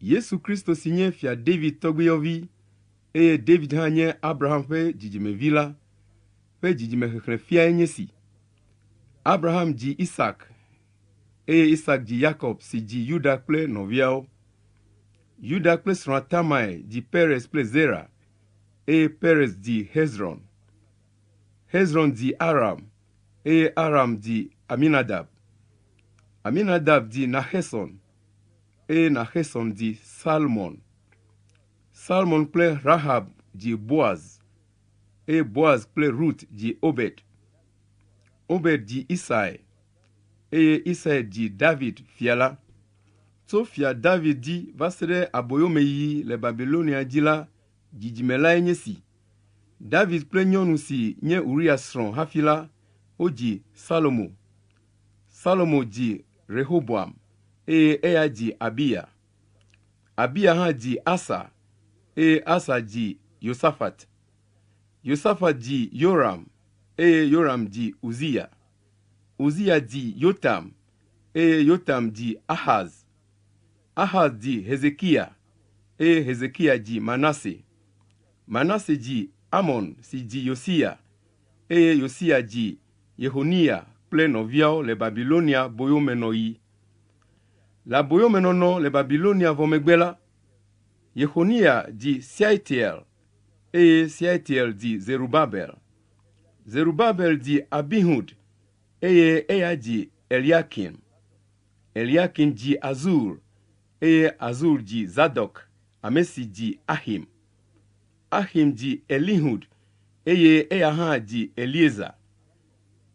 Yesu Kristo si nye Fia David tɔgbuiyɔvi, eye David hã nye Abraham ƒe dzidzimevi la, ƒe dzidzimexexlẽ fiae nye si, Abraham dzi Isak, eye Isak dzi Yakob si dzi Yuda kple nɔviawo. Yuda kple srɔ̃a Tamae dzi Perez kple Zera, eye Perez dzi Hezron. Hezron dzi Aram, eye Aram dzi Aminadab. Aminadab dzi Naxeson. eye Naxesɔn dzi Salmɔn. Salmɔn kple Rahab dzi Boaz, eye Boaz kple Rut dzi Obed. Obed dzi Isai, eye Isai dzi David fia la. Tso fia David dzi va se ɖe aboyomeyiyi le Babilonia dzi la, dzidzime lae nye si. David kple nyɔnu si nye Uria srɔ̃ hafi la, wodzi Salomo. Salomo dzi Rehoboam, eye eya dzi Abiya. Abiya hã dzi Asa, eye Asa dzi Yosafat. Yosafat dzi Yoram, eye Yoram dzi Uziya. Uziya dzi Yotam, eye Yotam dzi Axaz. Axaz dzi Hezekiya, eye Hezekiya dzi Manase. Manase dzi Amon si dzi Yosiya, eye Yosiya dzi Yexoniya kple nɔviawo le Babilonia boyomenɔɣi. Le aboyomenɔnɔ le Babilonia vɔ megbe la, Yexoniya dzi Sealtiel, eye Sealtiel dzi Zerubabel. Zerubabel dzi Abihud, eye eya dzi Eliakim. Eliakim dzi Azur, eye Azur dzi Zadok, ame si dzi Axim. Axim dzi Elihud, eye eya hã dzi Eleazar.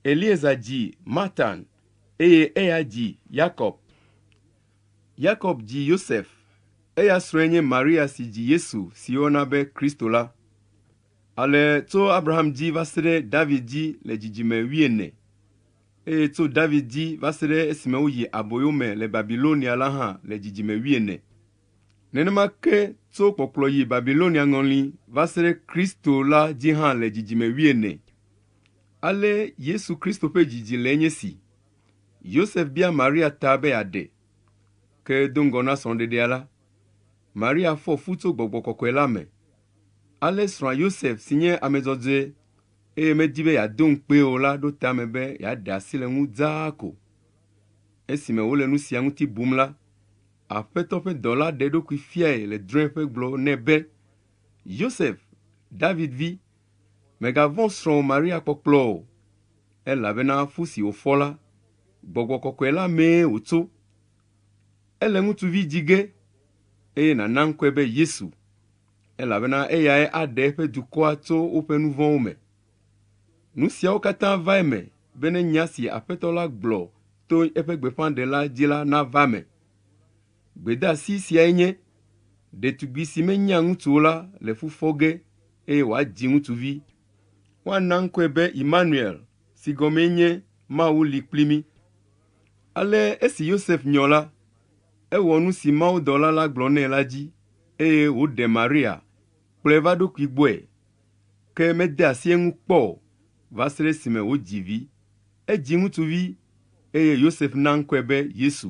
Eleazar dzi Matan, eye eya dzi Yakob. Yakob dzi Yosef, eya srɔ̃e nye Maria si dzi Yesu si woyɔna be Kristo la. Ale tso Abraham dzi va se ɖe David dzi le dzidzime wuiene, eye tso David dzi va se ɖe esime woyi aboyo me le Babilonia la hã le dzidzime wuiene. Nenema ke tso kpɔkplɔ yi Babilonia ŋɔli va se ɖe Kristo la dzi hã le dzidzime wuiene. Ale Yesu Kristo ƒe dzidzi le nye si. Yosef bia Maria ta be yeaɖe. Ke do ŋgɔ na srɔ̃ɖeɖea la, Maria fɔ fu tso gbɔgbɔ kɔkɔe la me. Ale srɔ̃a Yosef si nye ame dzɔdzɔe eye medi be yeado ŋukpee o la ɖo tame be yeaɖe asi le eŋu dzaa ko. Esime wole nu sia ŋuti bum la, Aƒetɔ ƒe dɔla ɖe eɖokui fiae le drɔ̃eƒe gblɔ nɛ be, Yosef, David vi, mègavɔ̃ srɔ̃wò Maria kpɔkplɔ o, elabena fu si wòfɔ la, gbɔgbɔ kɔkɔe la mee wòtso. Ele ŋutsuvi dzi ge, eye nàna ŋkɔe be Yesu, elabena eyae aɖe eƒe dukɔa tso woƒe nuvɔ̃wo me. Nu siawo katã va eme bene nya si Aƒetɔ la gblɔ to eƒe gbeƒãɖela dzi la nava eme. Gbedeasi siae nye, Ɖetugbi si menyea ŋutsu o la le fu fɔ ge eye wòadzi ŋutsuvi. Woana ŋkɔe be Imanuel si gɔmee nye Mawu li kpli mí. Ale esi Yosef nyɔ la, ewɔ nu si mawudɔla la gblɔ nɛ la dzi eye wòɖe Maria kplɔe va ɖokui gbɔe. ke mede asi eŋu kpɔ o va se ɖe esime wodzi vi. Edzi ŋutsuvi, eye Yosef na ŋkɔe be Yesu.